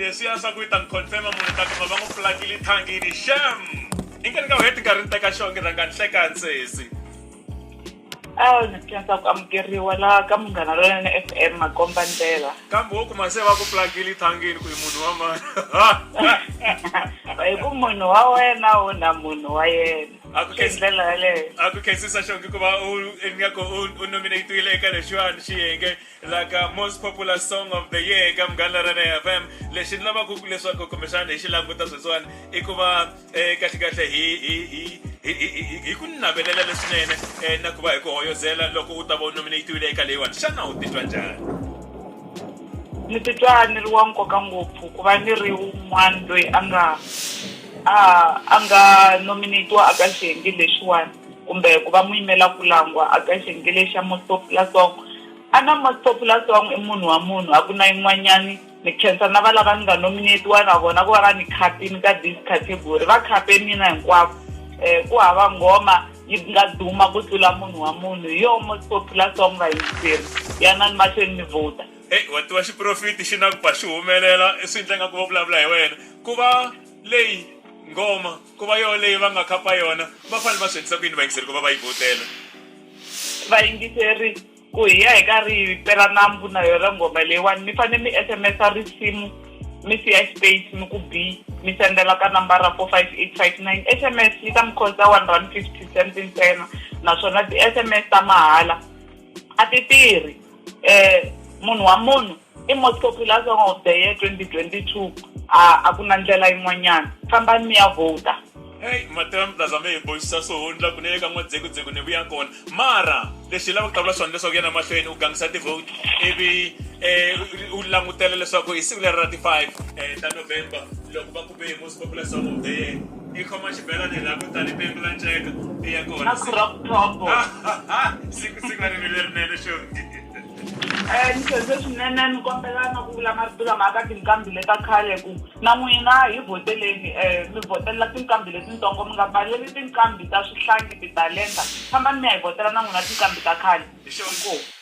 leswiya swa ku yi ta ni confirma munhu ta kuma va n'wi pulakile thangini sham i nge ni nga heti nkarhi ni teka xonge rhanga ni hleka ntsesi a ni khensa ku amukeriwa laha ka munghana lonene f m makomba ndlela kambe wo kuma se va ku pulakile thangini ku yi munhu wa mani hi ku munhu wa wena wo na munhu wa yena a ku khensi ndlela yaleyo a ku khensisa xonge ku va u ingaku u nominatiwile eka lexiwani xiyenge la ka most popular song of the year eka mugani ra na fm lexi ni lavaka ku leswaku kumbexana hi xi languta sweswiwani i ku va eh, kahlekahle hi hi hi hi- hi- hi- hi ku navelela leswinene eh, na ku va hi ku hoyozela loko u ta va u nominatiwile eka leyiwani xana u titwa njhani ni titwa ni ri wa nkoka ngopfu ku va ni ri un'wana loyi a nga a a nga nominatiwa aka xiyenge lexiwani kumbe ku va muyimela ku langwa a ka xengele xa Motlopilasong, a na Motlopilasong i munhu wa munhu a ku na yin'wanyani, ni khensa na valava ni nga nominetiwa na vona ku va va ni khapini ka this category, va khape mina hinkwako, eh, ku hava nghoma yi nga duma ku tlula munhu wa munhu, hi yoho Motlopilasong vayingiseri, yanani mahlweni mi vhota. Hey, wa tiva xiprofiti xi na ku ba xi humelela, swi ndla ingaku vo vulavula hi wena, ku va leyi nghoma. Ku va yoho leyi va nga khapa yona, va fanele va swi endlisa ku yini vayingiseri ku va va yi vhotela? Vayingiseri, Ku hi ya hi karhi hi pela nambu na yona nghoma leyiwani, mi fanele mi SMS-a risimu mi siya xipeyisi mi ku bi, mi sendela ka nambara 45859. SMS yi ta mi khosta one rhandi fifty cent ntsena naswona ti-SMS ta mahala a ti tirhi. munhu wa munhu i most popular song of the year twenty twenty two a a ku na ndlela yin'wanyana fambani mi ya vhota heyi mato ya mplaza mi hi boxisa swihundla ku nele ka n'wadzekuzeku ni vuya kona mara lexi hi lava ku qavula swona leswaku yena mahlweni u gangisa tivhoti ivi um u langutela leswaku hi siku leri ra ti-five um ta november loko va kume Population of the year. I khoma xibelani laha ku tani pengu la nceka i ya kona. A crop top. Siku siku na rivilo lerinene xongi. Eh ni senze swinene ni kombela na ku vula marito lama aka tinqambi leta khale ku na n'wina hi voteleni eh mi votelela tinqambi letintsongo mi nga valeli tinqambi ta swihlangi titalenta fambani mi ya hi votela na n'wina tinqambi ta khale. Hi xona inkomu.